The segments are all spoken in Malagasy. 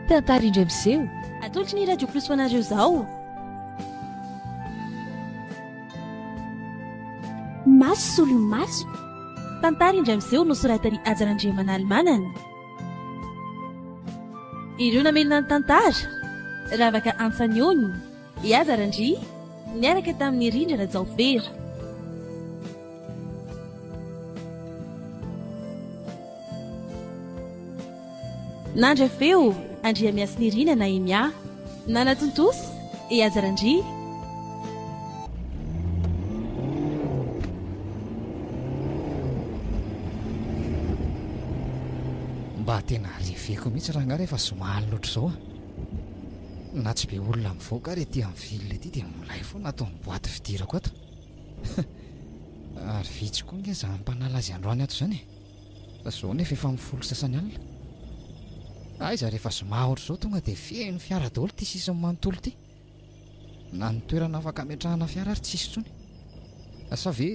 Tantara indray miseho. Atolotry ny Radio Plus ho anareo izao. Maso solomaso. Tantara indray miseho nosoratan'i Hajar Andriamanalimanana. Ireo namelona ny tantara, Ravaka Antsaniony. I Aza Randria niaraka tamin'i Rindra Rajaofera. Nandra feo, Andriamiasinirina Nahemia. Nanatontosa, i Aza Randria. Mba tena reveko mihitsy raha angaha rehefa zoma alina ohatr'izao a! Na tsy be olona mivoaka ary ety amin'ny ville ety dia milay foana ato amin'ny boite fidirako ato. Ary vitsy koa nge izany mpanala azy androany ato izany e. Fa izao nefa efa amin'ny folo sasany alina. Aiza rehefa zoma ohatr'izao tonga dia feno fiara daholo ity sisiny manontolo ity. Na ny toerana afaka ametrahana fiara ary tsisy intsony. Sa ve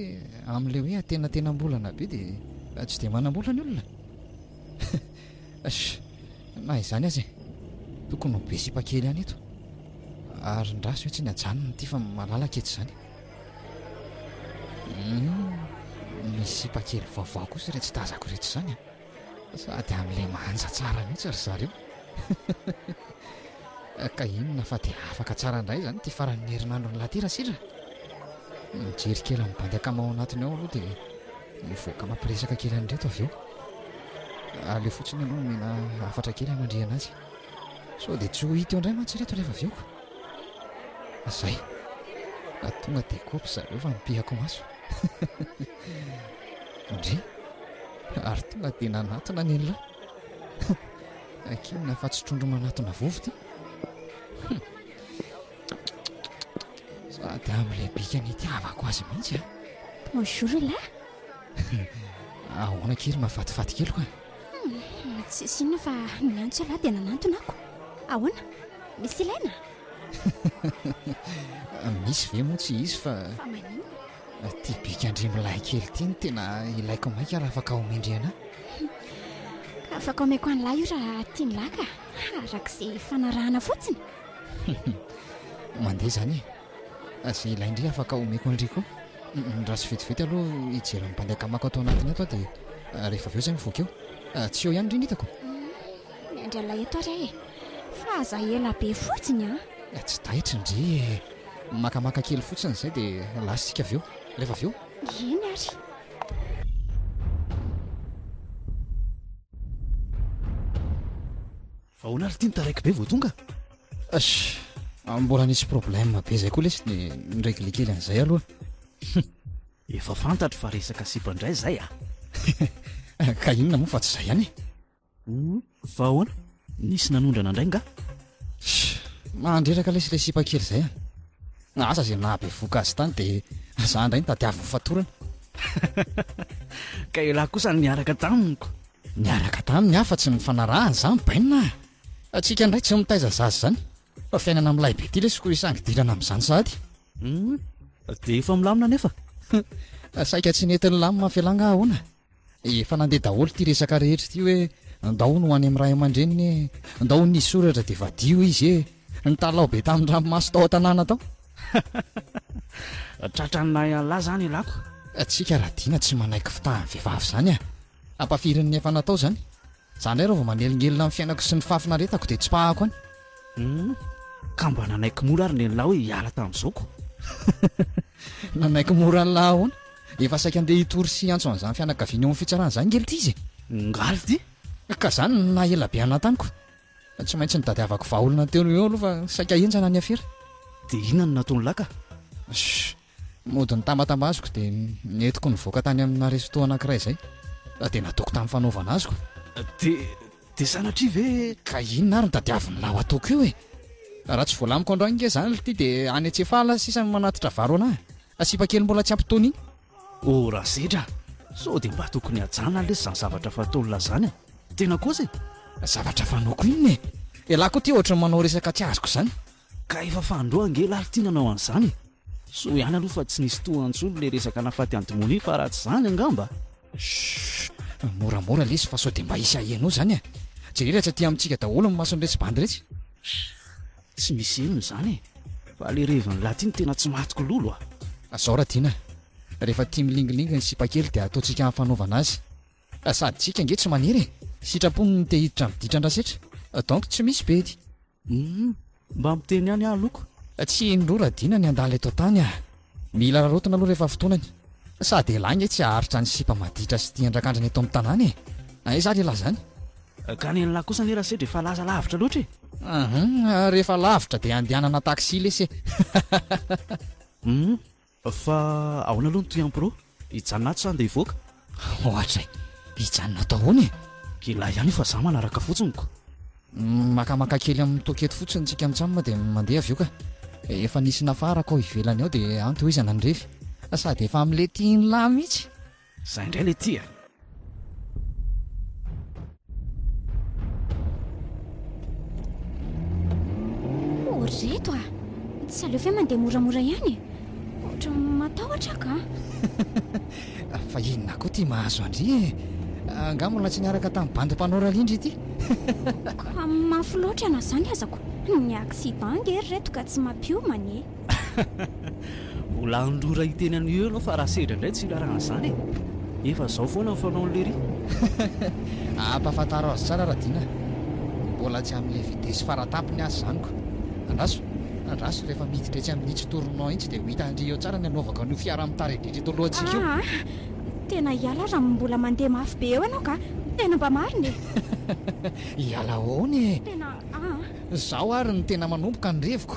amin'ilay hoe atenantenam-bolana be dia tsy dia manam-bola ny olona? Sh! Na izany aza e! Tokony ho be sipa kely ihany eto. Arin-draha sao tsy ny ajanony ity fa malalaka eto izany. Hum, ny sipa kely vaovao kosa iretsy tazako iretsy izany an. Ah. Sady amin'ilay manja tsara mihitsy ry zareo. ka inona fa dia afaka tsara indray izany ity faran'ny herinandro ny lahatera sira. Mijery kely amin'ny bandy ankama ao anatiny ao aloha dia Mivoaka mampiresaka kely an'ireto avy eo. Aleo fotsiny aloha omena hafatra kely hanandriana azy. Sao dia tsy ho hita eo indray mantsy ireto rehefa avy eo ka. Izay. Na tonga dia kopy zareo fa nipihako maso. Ndry. Ary tonga dia nanatona ny an'ilay. Akinina fa tsy trondro manatona vovo ity. Sady amin'ilay bika nitiavako azy mihitsy a Bonjour la Ahoana kely mahafatifaty kely koa hmm, Tsisy inona fa niantso ialahy dia nanantona ako Ahoana? Misy ilaina? Misy ve moa tsy hisy fa Fa manino? Ty bika andrimilay kely ity no tena ilaiko maika raha afaka omendrena Ka afaka omeko an'lahy io raha tian'lahy ka Arak'izay fanarahana fotsiny Mandeha izany e! Izay ilain-dry afaka omeko an-dry koa. Raha tsy vetivety aloha hijery ny bandy akamako ato anatiny ato aho dia rehefa avy eo izay mivoaka eo. Tsy eo ihany ry ny hitako. Miandry an'ilay eto ary aho e! Fa aza ela be fotsiny an! Tsy taitry ndry e! Makamaka kely fotsiny izay dia lasa isika avy eo. Rehefa avy eo. Eny ary. Ahoana ary ity ny taraiky be vao tonga? Ach! Mbola nisy problème be zay koa lesy de ni-régler kely an'izay aloha. Hum! Efa fantatro fa resaka sipa indray zay a! Ka inona moa fa tsy zay ihany e! Hum! Fa ahoana? Nisy nanondrana indray nga? Ach! Mandreraka lesy ilay sipa kely zay a! Asa zay nahabevohoka azy tany de za indray no tadiaviny fatorana. Ka elah kosa niaraka tamiko! Niaraka taminy afa tsy nifanarahana izany bainina a! Antsika indray tsy mitaiza zaza izany fa fiainana milay be ity lesy koa isangy dirana amin'izany sahady. Hum, dia efa milamina anefa? Hum, saika tsy nety nilamina f'elah nga ahoana? Efa nandeha daholo ity resaka rehetra ity hoe ndao ho any amin'ny ray aman-dreniny e, ndao ho nisy soratra dia vadio izy e, nitalaho be tamin-dranomaso tao an-tanàna tao. Tratran'ny nahy an'lah izany elah ko! Antsika Radiana tsy manaiky fitahan'ny vehivavy izany a! Ampafirin ny efa natao zany. Za ndray reo vao manelingelina am fiainako sy ny fahafinaretako de tsipahako any. Hum, ka mba nanaiky mora ary nenla hoe hiala tamzao ko. Nanaiky mora anla ahoana? Efa saika andeha hitory sy hiantso anzany fianakaviana eo am fitsarana zany nge lty izy e. Ngaly ty. Ka zany no naha ela be anla tamiko. Tsy maintsy nitadiavako vahaolana teo noho eo aloha fa saika henjana ny afera. De inona no nataonla ka? Shh. Mody nitambatambaziko dia nentiko nivoaka tany amina resto anankiray izay dia nataoko tamin'ny fanaovana azy ko. Dia dia sanatria ve? Ka inona ary no tadiavin'lah ho ataoko io e? Raha tsy voalamiko androany nge izany lty dia any Antsefala sisa no manatitra vary ho anah. Ka sipa kely mbola tsy ampy taona iny. Oh Rasedra a! Sao dia mba tokony hajana lesy izany zavatra fataon'lah izany e? Tena kosa e! Zavatra fanaoko inona e? Elah koa ity ohatran'ny manao resaka tsy azoko izany. Ka efa fandroa ange lahy ty nanao an'izany e! Soa ihany aloha fa tsy nisy toa antsony le resaka nafaty an'i Dmony fa raha tsy izany angamba. Shhh! Moramora lesy fa sao dia mba hisy haheno izany e! Jereo raha tsy aty amintsika daholo ny mason'iretsy bandy iretsy. Shhh! Tsy misy henony izany e! Fa le revin'ny lahy ty no tena tsy matiko lolo a! Zao ra Dina, rehefa tia milingilingy ny sipa kely dia ataontsika hafanaovana azy. Sady tsika ange tsy maniry e! Sitrapony ny te hiditra amin'ny ditra andrasetra. Donc tsy misy bedy. Humm, mba miteny ihany aho loko. Tsy indroa raha dina ny handala eto an-tany ah. Mila rarotina aloha rehefa fotoanany. Sady elah nge tsy haharitra ny sipa maditra sy tian drakandrina eto amin'ny tanàna e! Aiza ary elah zany? Ka ny an'lah kosa anie rasedra efa laza lavitra loatra e! Ahum, rehefa lavitra dia andehanana taxi lesy e! Humm, Fa ahoana aloha ny Tuyan Pro? Hijanona ato sa andeha hivoaka? Ohatra e! Hijanona ato ahoana e? Kila ihany io fa za manaraka fotsiny ko. Makamaka kely amin'ny toaka eto fotsiny tsika mitsam dia mandeha avy eo ka. Efa nisy nafarako ao ivelany ao dia antohizana ny refy. Sady efa amlety in lah mitsy. Zah indray le ty a! Oh, ry reto a! Tsy aleo ve mandeha moramora ihany e? Ohatra matahotra ka! Fa inona koa ty mahazo an-dry e? Angaha mbola tsy niaraka tamin'ny bandy mpanao rallye ndry ity? Ka mafy loatra na zany azako! Ny accident ange ry reto ka tsy mampiomana e! Mbola handrora hiteny an'io eo ianao fa raha sedra indray tsy hirarana an'izany e! Efa izao foana ny fanaon'i Lery. Ampahafantaro azy tsara Radiana a! Mbola tsy amin'ilay vitesse faratapony aza izany ko! Andraso! Andraso rehefa miditra etsy amin'itsy tournant itsy dia ho hitandry eo tsara ny hanaovako an'io fiara mitaridritra eto alohantsika io. Aa! Tena hiala aza amin'ny mbola mandeha mafy be eo ianao ka! Tena mba marina e! Hiala ahoana e! Tena aa! Izaho ary no tena manomboka ny reviko.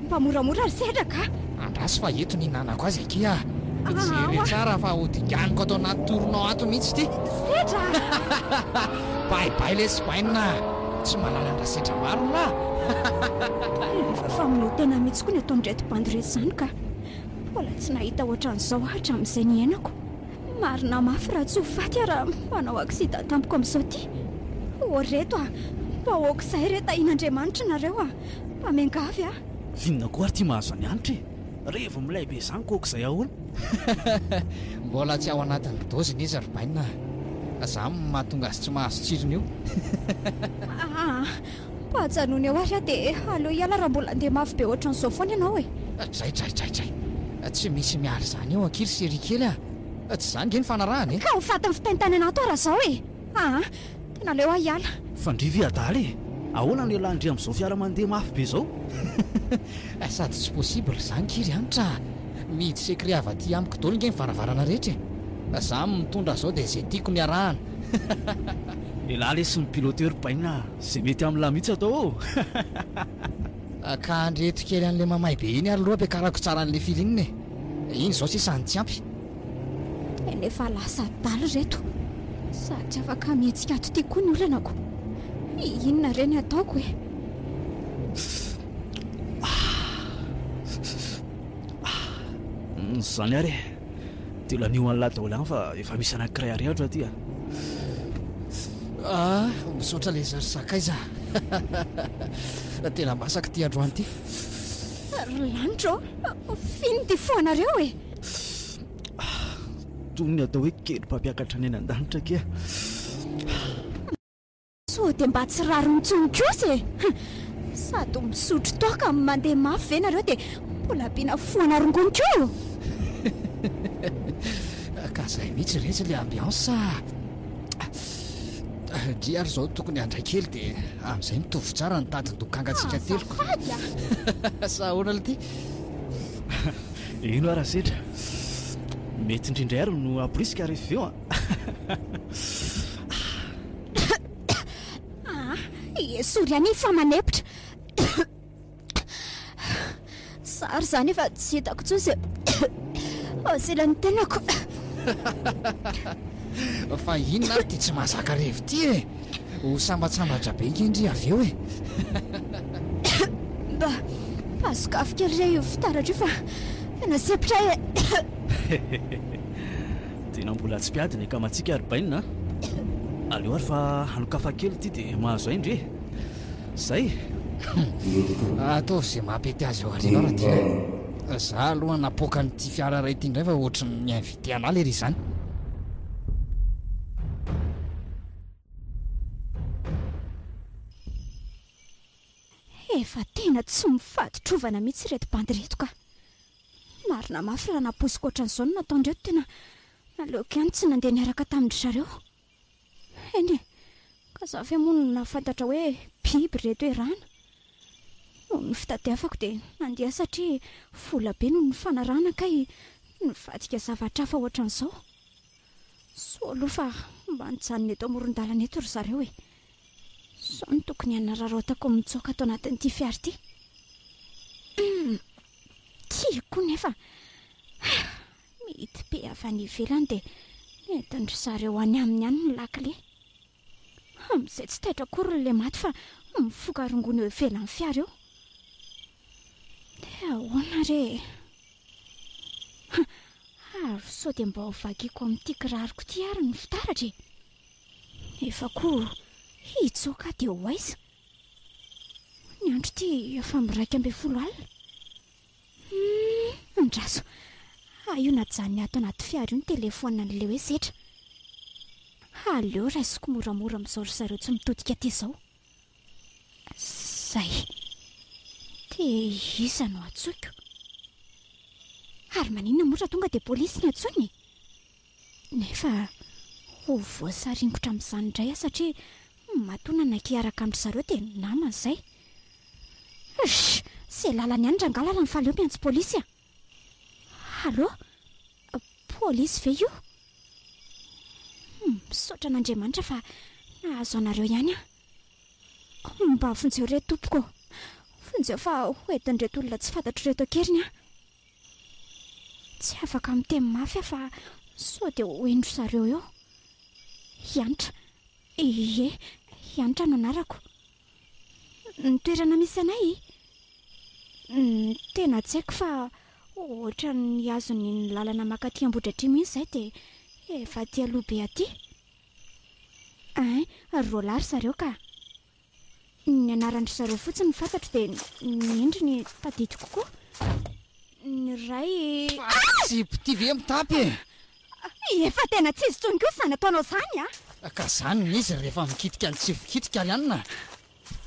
Mba moramora ry sehatra ka! Andraso fa eto no hinanako azy akia ah! Fijery tsara fa ho dinganiko ato anaty tournant ato mihitsy ity! Sedra! Bay bay lesy bainina ah! Tsy manana an-dRasedra maro ny lah! Famonoa tena mihitsy koa ny ataon ireto bandy ireto izany ka! Mbola tsy nahita ohatran'izao aho hatramin'izay niainako! Marina mafy raha tsy ho faty aho raha manao accident tampoka amin'izao ity! Ô reto ah! Bahoaka izahay re tahian'Andriamanitra nareo ah! Mpamengavy aho. F'inona koa ary ty mahazo an'i Hanitra e? Revy milay be zany kôa k'izay ahoana? Mbola tsy ao anatin'ny doziny izy ry Bainina a! Zany no mahatonga azy tsy mahazo tsirony io. Aa! Mba ajanony eo ary aho dia aleo hiala raha mbola handeha mafy be ohatran'izao foana ianao e! Dray dray dray dray! Tsy misy miala izany eo ankiry Serie kely a! Tsy izany nge ny fanarahana e! Ka ho fatin'ny fitaintainana ato aho raha izao e! Aa! Tena leo aho hiala. Fandrivy adala e! Ahoana no ialany ndry amin'izao fiara mandeha mafy be izao? Hay sady tsy possible zany nge ry Hanitra a! Mihidy secret avy aty amiko daholo nge ny varavarana rehetra e! Fa za mitondra zao dia ze tiako no iarahana. Elah lesy ny piloteur baina a! Ze mety amin'lah mihitsy atao ô! Ka andreto kely an'le mamay be iny ary loha ampiakarako tsara an'le feeling e! Iny zao sisa no tsy ampy. Tena efa lasa adala ireto sady tsy afaka mihetsika ato ity koa ny olanako. Inona re ny ataoko e? Izany ary e, dia lanio an'lah daholo ihany fa efa misy anankiray arehako aty a! Misaotra lesy ry sakaiza a! Tena masaka ity androany ity. Ry lanitra ô! F'inona ity foanareo e? Toy ny atao hoe kely mpampiakatra ny any an-danitra akia. Sao dia mba tsy rariny intsony kosa e! Sady misotro toaka no mandeha mafy ve nareo dia mbola ampiana foana rongony koa? Ka izay mihitsy retsy ilay ambiance a! Ndry ary izao tokony handray kely dia amin'izay mitovy tsara ny tadin-dokangantsika telo ka! Aza fady a! Sa ahoana Lty? Ino ara setra? Mety indrindra ary no abrisika rehefa avy eo an! Esory ihany iny fa manepotra! Za ary izany efa tsy hitako intsony izay asela ny tenako! Fa inona ary ity tsy mahazaka revy ity e? Ho sambatsambatra be nge ndry avy eo e! Mba pasok'afo kely re io fitaratra io fa tena sepitra ahy e! Tena mbola tsy mpiady ny akamatsika ry Bainina a! Aleo ary fa hanokafa kely ity dia mahazo ahy ndry e! Zay e! Ataovy izay maha-pety azy ao aoriana ao Ratiana e! Za aloha napoaka an'ity fiara iray ity indray fa ohatry ny mihaino. Dia anà lery izany. Efa tena tsy mifaditrovana mihitsy ireto bandy ireto ka. Marina mafy raha nampoiziko ohatran'izao no nataondreo, tena naleoko ihany tsy nandeha niaraka tamin-dry zareo. Eny e, ka za ve moa no nahafantatra hoe biby ry reto erana. Noho ny fitadiavako dia nandeha satria vola be no nifanarahana kay nivadika zavatra hafa ohatran'izao. Soa aloha fa mba nijanona eto amoron-dalana eto ry zareo e. Sao no tokony hanararaotako mitsoaka ato anatin'ity fiara ity. Tiako nefa. Mety be avy any ivelany dia nentin-dry zareo any aminy any ny lakile. Amin'izay tsy taitra akory ny lematy fa mifoka rongony eo ivelan'ny fiara eo. Dia ahoana re e? Ha! Ary sao dia mba ho vakiako amin'ity kiraroko ity ary ny fitaratra e? Nefa koa hitsoaka aho dia ho aiza? Ny andro ity efa miraika ambin'ny folo alina. Humm andraso ah io najanony ato anaty fiara io ny téléphone an'i Leo e setra ah aleo raisiko moramora mizao ry zareo tsy mitodika aty zao zay de iza no antsoiko ary maninona moa raha tonga de polisy no antsoina e Nefa ho voasaringotra amin'izany indray aho satria matoa nanaiky hiaraka amin-dry zareo dia namany izay. Rzsh! Izay lalany ihany rangahy lalany fa aleo miantso polisy a! Allô? Polisy ve io? Humm, misaotra an'Andriamanitra fa nahazo anareo ihany aho. Mba vonjeo re tompoko ô! Vonjeo fa hoentin'ireto olona tsy fantatro ireto an-keriny aho. Tsy afaka miteny mafy aho fa sao dia ho hen-dry zareo eo. Hanitra. Ie, i Hanitra no anarako. Ny toerana misy anay? Ny tena tsy haiko fa ohatran'ny hazon'ny ny lalana makaty Ambohidratrimo iny izay dia efa aty aloha be aty. Hein, roa lahy ry zareo ka. Ny anaran-dry zareo fotsiny no fantatro dia ny endriny tadidiko koa. Ny iray. Tsy piti ve mitapy e? Efa tena tsy izy intsony koa izany ataonao izany a! Ka izany ny izy rehefa mikitika ny tsy vokitika ry anona a!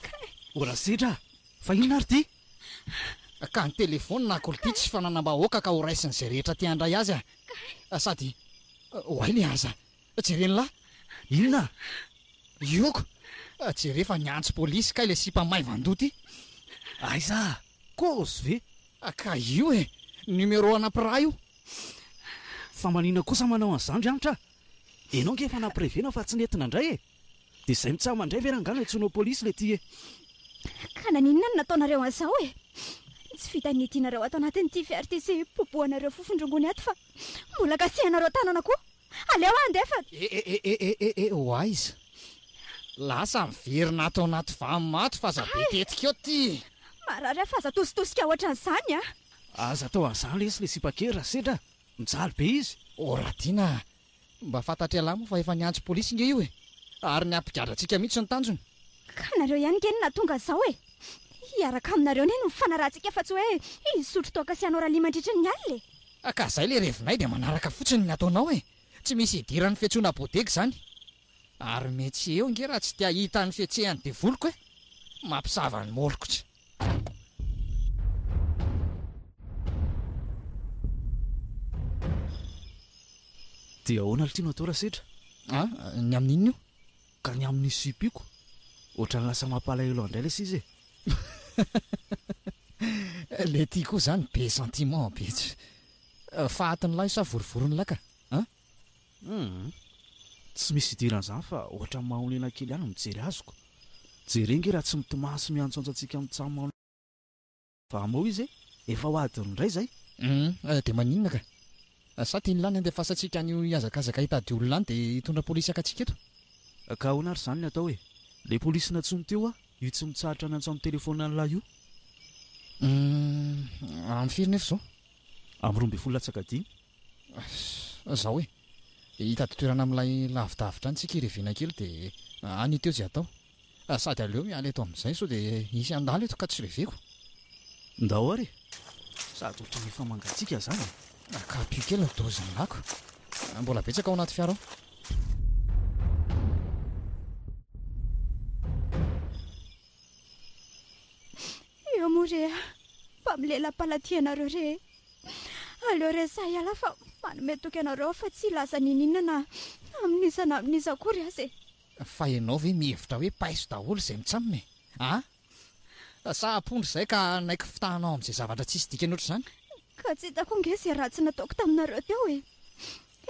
Kay! O Rasedra a! Fa inona ary ity? Ka ny telefaony na kolo ity tsy fananam-bahoaka ka horaisin'izay rehetra te handray azy a! Kay! Sady oay le aza! Jereny lahy! Inona? Iroko! Jere fa niantso polisy kay le sipa maivan-doha ty! Aiza? Kôzy ve? Ka io e! Numéro ana mpiraha io! Fa manina kosa manao an'izany ry Hanitra a! Enao ange efa nampirevena fa tsy nety nandray e! Dia izay mitsaha mandray ve rangah no antsoinao polisy le ty e! Ka naninona no nataonareo an'izao e! Tsy vitan'ny itianareo ato anatin'ity fiarty sy popohanareo fofon-drongony ato fa mbola kasihanareo tanana koa! Aleo andefa! E e e e e e e ho aiza? Lasa miverina ato anaty vany maty f'aza be tetika eo ty! Marary aho f'aza atositosika ohatran'izany a! Aza atao an'izany lesy le sipa kely raha sendra mijaly be izy! O Radiana a! Mba fantatr'ialahy moa fa efa niantso polisy nge io e! Ary ny hampigadra antsika mihitsy no tanjony! Ka nareo ihany nge no nahatonga izao e! Hiaraka aminareo anie no hifanarahantsika fa tsy hoe hisotro toaka sy hanao rallye mandritry ny alina e! Ah ka zay le revinay dia manaraka fotsiny ny ataonao e! Tsy misy hidiran'ny fiantsoana bodega izany. Ary mety tsy eo nge raha tsy te hahita ny fihetsehan'ny devoliko e! Mampisava ny molikotra. Dia ahoana ry Tino atao raha sedra? Ah, ny amin'inona io? Ka ny amin'ny sipiko? Ohatrany lasa mampalahelo andray lesy izy e! Le ty koa zany be sentiment be tsy. Fahatin'ny lahy sa vorivorin'ny lahy ka an? Hum! Tsy misy idiran'izany fa ohatrany mahonena kely ihany ny mijery azy ko. Jereo nge raha tsy mitomany sy miantsoantso antsika mitsam. Fa moa izy efa ho adiny indray izay? Humm dia maninona ka? Sa tian'i Lany handefasantsika an'io hihazakazaka hitady olona any dia hitondra polisy haka antsika eto? Ka ahoana ary izany ny atao e? Ilay polisy nantsoiny teo aho, io tsy mitsahatra nantso amin'ny telefaonina an'lah io. Humm amin'ny firy nefa izao? Amin'ny roa ambin'ny folo latsaka dimy. Izao e, hitady toerana amin'ilay lavidavitra any tsika irevena kely dia any io teo izay atao. Sady aleo miala eto amin'izay sao dia hisy handalo eto ka tsy reveko. Ndao ary e! Sady ohatran'ny efa mangatsiaka izany e! Naka-pio kely ny dozin'ny lako. Mbola betsaka ao anaty fiara ao. Eo moa re a! Fa milela-palatia ianareo re e! Aleo resahy ialahy fa manome toky anareo aho fa tsy hilaza n'inon'inona na amin'iza na amin'iza akory aza e! Fa ianao ve mihevitra hoe paiso daholo izay mitsamina e? Ah! Sa ampondra izay ka hanaiky fitahanao amin'izay zavatra tsisy dikany ohatr'izany? Ka tsy hitako ange izay ratsy nataoko taminareo teo e!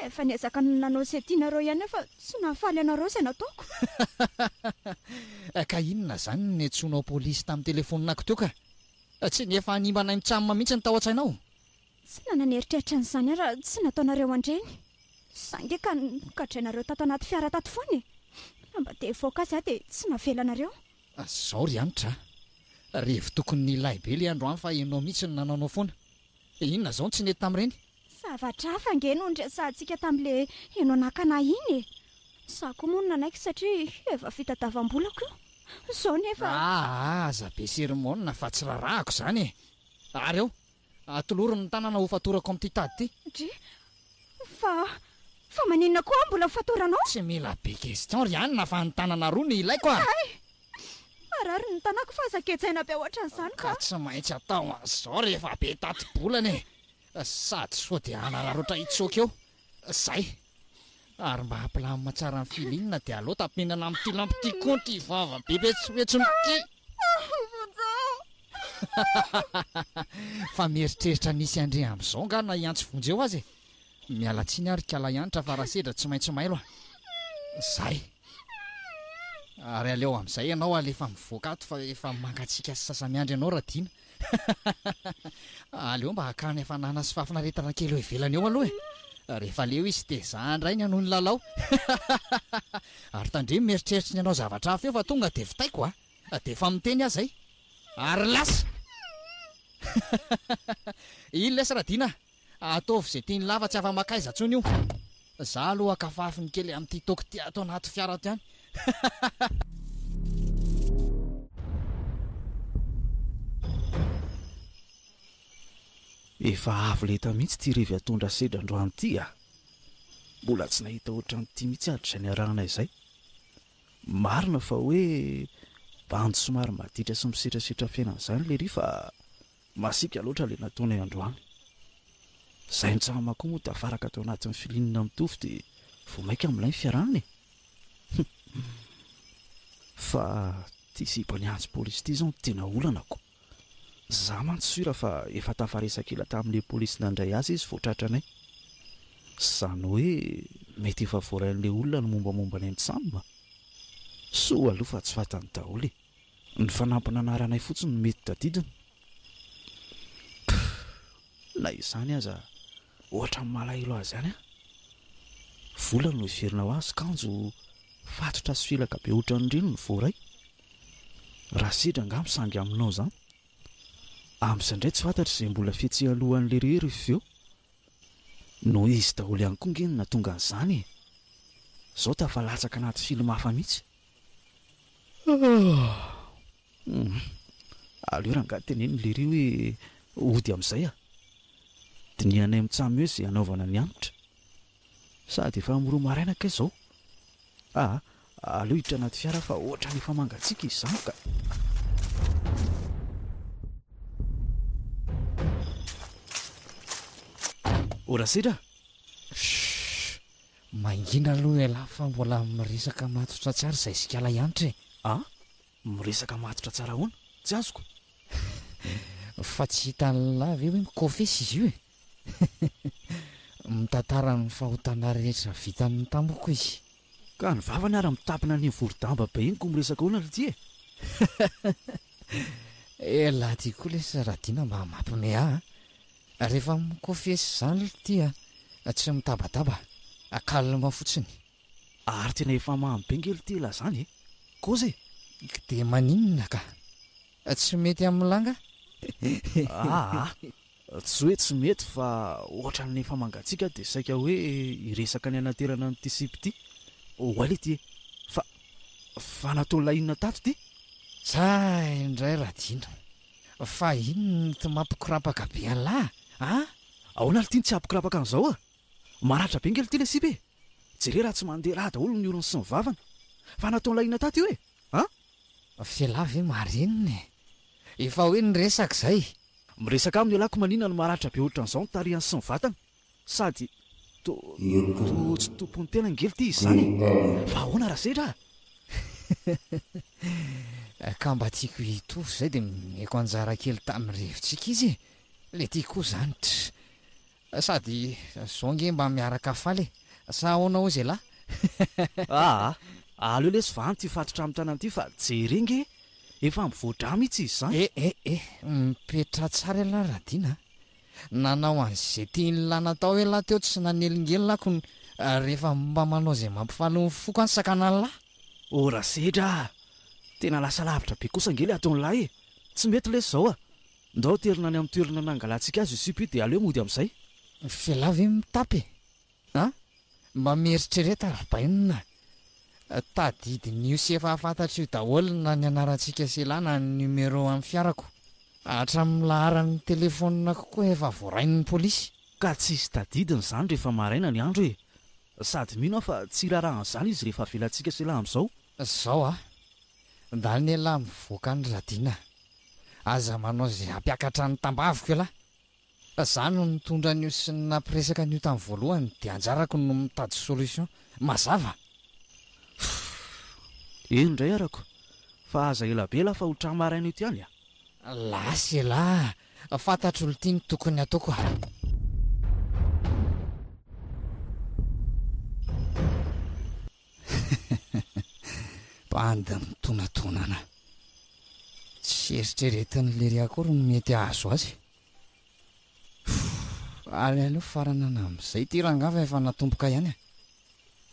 Efa niezaka nanao izay tianareo ihany aho fa tsy nahafaly anareo izay nataoko. Ka inona izany no niantsoanao polisy tamin'ny telefonina-ko teo ka? Tsy ny efa hanimba anay mitsamina mihitsy no tao an-tsainao? Tsy nanana ny eritreritra an'izany aho raha tsy nataonareo an-dreny. Za nge ka nogadrainareo tato anaty fiara tato foana e! Raha mba te hivoaka azy aho dia tsy navelanareo. Zao ry Hanitra a! Revy tokony nilay be le andro an fa enao mihitsy no nanaonao foana. Inona zao no tsy nety tamin'ireny? Zavatra hafa nge no niresahantsika tamin'le enao nakana ahy iny e! Za koa moa no nanaiky satria efa fitadavam-bolako io. Zao nefa. Aa aza be sermona fa tsy rarahako zany e! Ary ao? Atoloro ny tanana ho fatorako amin'ity tady ity. Dry, fa, fa maninona koa aho mbola ho fatoranao? Tsy mila be question ry Anna fa ny tanana roa no ilaiko a! Hay! Marary ny tanako fa aza gejaina be hoatran'izany ka! Ka tsy maintsy atao an'izao rehefa be tati-bolana e! Sady sao dia hanararaotra hitsoaka eo. Zay. Ary mba ampilamina tsara ny feeling dia aleo tapenana amin'ity lampy ity koa ity vava be betsohetsony ity. Fa mieritreritra ny hisy andre amin'izao angaha na i Antsy vonjy eo aza e. Miala tsiny aho ry kalahy Hanitra fa raha sedra tsy maintsy mailo a. Zay. Ary aleo amin'izay ianao alefa mivoaka ato fa efa mangatsiaka sy sasa-miandry anao Radiana. Aleo mba hakany hafanana sy fahafinaretana kely eo ivelany eo aloha e! Rehefa leo izy dia za indray ny hanohy ny lalao. Ary tandremo mieritreritra ny hanao zavatra hafa eo fa tonga dia vitaiko a! Dia efa miteny aza i. Ary lasa! Iny lesy Radiana a! Ataovy izay tian'i Lava tsy afa-makaiza intsony io. Za aloha kafafiny kely amin'ity toky ity ato anaty fiara ato ihany. Efa avo lenta mihitsy ity revy atondra sedra androany ity a! Mbola tsy nahita ohatran'ity mihitsy aho hatrizay niarahana izay. Marina fa hoe bandy somary maditra sy misetrasetra fiainana izany lery fa Masiaka loatra ilay nataonay androany. Izahay mitsahama koa moa tafaraka tao anatin'ny filinina mitovy dia vao maika milay ny fiarahana e! Humm. Fa ity zipo niantso polisy ity izao no tena olanako. Izaho mantsy sura fa efa tafaresaka ela tamin'ilay polisy nandray azy izy vao tratranay. Izany hoe mety efa voarain'ilay olona ny mombamomba anay mitsam. Soa aloha fa tsy fantany daholo e! Ny fanampina anaranay fotsiny no mety tadidiny? Pff! Na izany aza, ohatran'ny malahelo azy ihany aho. Vola no heverina ho azy, kanjo fatotra sy felaka be ohatran'ireny no voaray. Raha sedra angaha misangy aminao izany. Amin'izay indray tsy fantatra izay mbola fihetsehany alohan'ny lery ry feo. No izy daholo ihany koa ange no nahatonga an'izany e! Izao tafalatsaka anaty film hafa mihitsy. Aleo rangahy teneno lery hoe hody amin'izay ah. Dinihanay mitsam eo izay hanaovana ny hanitra. Sady efa miroa maraina kay izao. Ah, aleo hiditra anaty fiara fa ohatrany efa mangatsiaka izany ka. Ora sedra? Mangina aloha ialahy fa mbola miresaka matotra tsy ary izay zikala ihanitra e! A? Miresaka matotra tsara ahoana? Tsy azoko. Fa tsy hitan'ilahy ve hoe mikofesy izy io e? Mitantara ny fahotana rehetra vitany tamiko izy. Ka ny vavany ary mitapina an'iny vori-damba be iny koa miresaka ahoana ry ty e? Elah ty koa lesy Radiana mba mampime ahy a! Rehefa mi-confesse izany l'ty a, tsy mitabataba a, calme fotsiny. Ary tena efa mamy be nge l'ty la zany e! Koza e! K dia maninona ka? Tsy mety amin'i la nga? Aa! Tsy hoe tsy mety fa ohatran'ny efa mangatsiaka dia saika hoe hiresaka ny hanaterana an'ity sipa ity. Oay l'ty e! Fa fa natao la inona tato ty? Tsa indray Radiana, Fa inona no tsy mampikorapaka be an'lah a? Ahoana ary ity no tsy hampikorapaka an'izao a? Maratra be ngely ity ilay sipa e! Jereo raha tsy mandeha rà daholo ny orony sy ny vavany! Fa nataon'lah inona tato io e? An? F'elah ve marinina e! Efa hoe niresaka izay! Miresaka aminy elah ko maninona no maratra be ohatran'izao ny tarihany sy ny vatany? Sady to to tsy tompon'ny tena ngely ty izy zany e! Fa ahoana raha sedra a! Ka mba tiako hitovy zay de nomeko anjara kely tamin'ny rivotsika izy e! Le ty koa zany tr! Sady zao nge mba miaraka faly e! Sa ahoana ozy elah? Aa! aleo lesy va anty fatotra amin'ny tanana ty fa jereo nge efa mivoa-drà mihitsy izy zany! Eh eh eh! Mipetraha tsara elah Radina a! Nanao an'izay tian'i la natao e la teo tsy nanelingelina ako ny rehefa mba manao izay mampifaly ny foko any sakanan'i la. O Rasedra a! Tena lasa lavitra be kosa ange le ataon'i la e! Tsy mety lesy zao a! Ndao aterina any amin'ny toerana nangalantsika azy io sipa io dia aleo mody amin'izay. F'I la ve mitapy e? A, Mba mieritrereta Rabainina a! Tadidin'io sy efa fantatro io daholo na ny anarantsika sy la na ny numéro amin'ny fiarako. Hatramin'ny laharan'ny telefoniko koa efa voarain'ny polisy. Ka tsisy tadidiny izany rehefa maraina ny andro e! Sady mino aho fa tsy hirarahan'izany izy rehefa avelantsika sy la amin'izao. Zao a! Ndany elah mivoaka any Radina. Aza manao izay hampiakatra ny tambaviko elah. Fa za no nitondra an'io sy ny nampiresaka an'io tamin'ny voalohany dia anjarako no mitady solution. Mazava? Fff. Eny indray arako. Fa aza ela be la fa ho tra maraina eto ihany a. Lasa elah. Fantatro olo ty ny tokony ataoko a. Bande mitonatonana. Tsy eritreretin'i Lery akory ny mety hahazo azy. Ary aleo faranana amin'izay ity rangahy fa efa natomboka ihany e.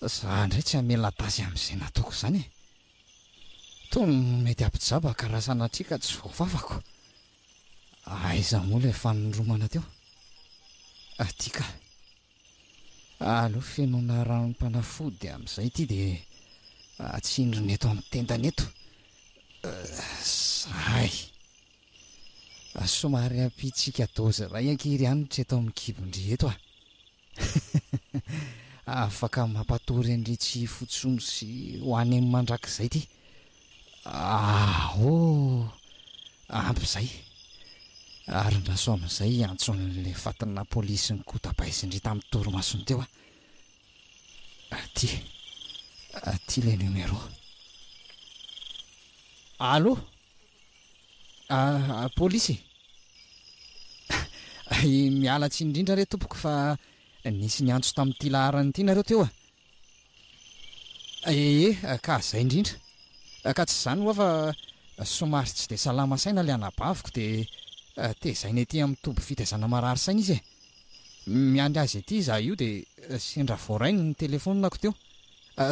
Za indray tsy hamela tasy amin'izay nataoko izany e. Toa mety hampijaba ka raha sanatria ka tsy voafafako. Aiza moa ilay fanoromana teo? Aty ka. Aleo fenoina ranom-panafody amin'izay ity dia atsindrina eto amin'ny tendany eto. Zahay. Somary ampiantsika dozy iray ankiry hanitra eto amin'ny kibon-dry eto ah. Afaka mampatory an-dry tsy hifotsony sy ho any mandrakizay ity. Ah oh! Ampy izay. Arin-dRasoa amin'izay hiantso an'ilay fatinà polisy nikotabaisin-dry tamin'ny torimasony teo aho. Aty. Aty ilay numéro. Allô? Ah, polisy e. Miala tsiny indrindra re tompoko fa nisy niantso tamin'ity laharana ity nareo teo a. Ee, ka zay indrindra. Ka tsy izany hoa fa somary tsy dia salama saina ilay anabaviko dia tezaina ety amin'ny toby fitaizana marary saina izy e. Miandry azy ety izaho io dia sendra voarainy ny telefonina-ko teo.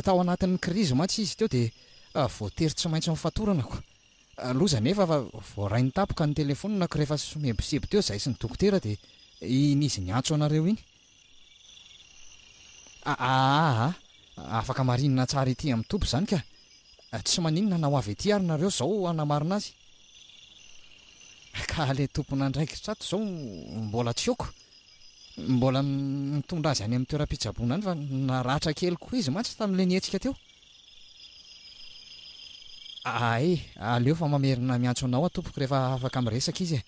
Tao anatin'ny krizy mantsy izy teo dia voatery tsy maintsy nofatoranako. Loza anefa fa voarainy tapoka ny telefonina-ko rehefa somebiseby teo izahay sy ny dokotera dia iny izy niantso anareo iny. Aahh afaka marinina tsara ety amin'ny toby izany ka! Tsy maninona na ho avy ety ary nareo izao hanamarina azy. Ka ilay tompon'andraikitra ato izao mbola tsy aoko. Mbola mitondra azy any amin'ny toeram-pitsaboana any fa naratra kely koa izy mantsy tamin'ilay nihetsika teo. Aay aleo fa mamerina miantso anao aho tompoko rehefa afaka miresaka izy e!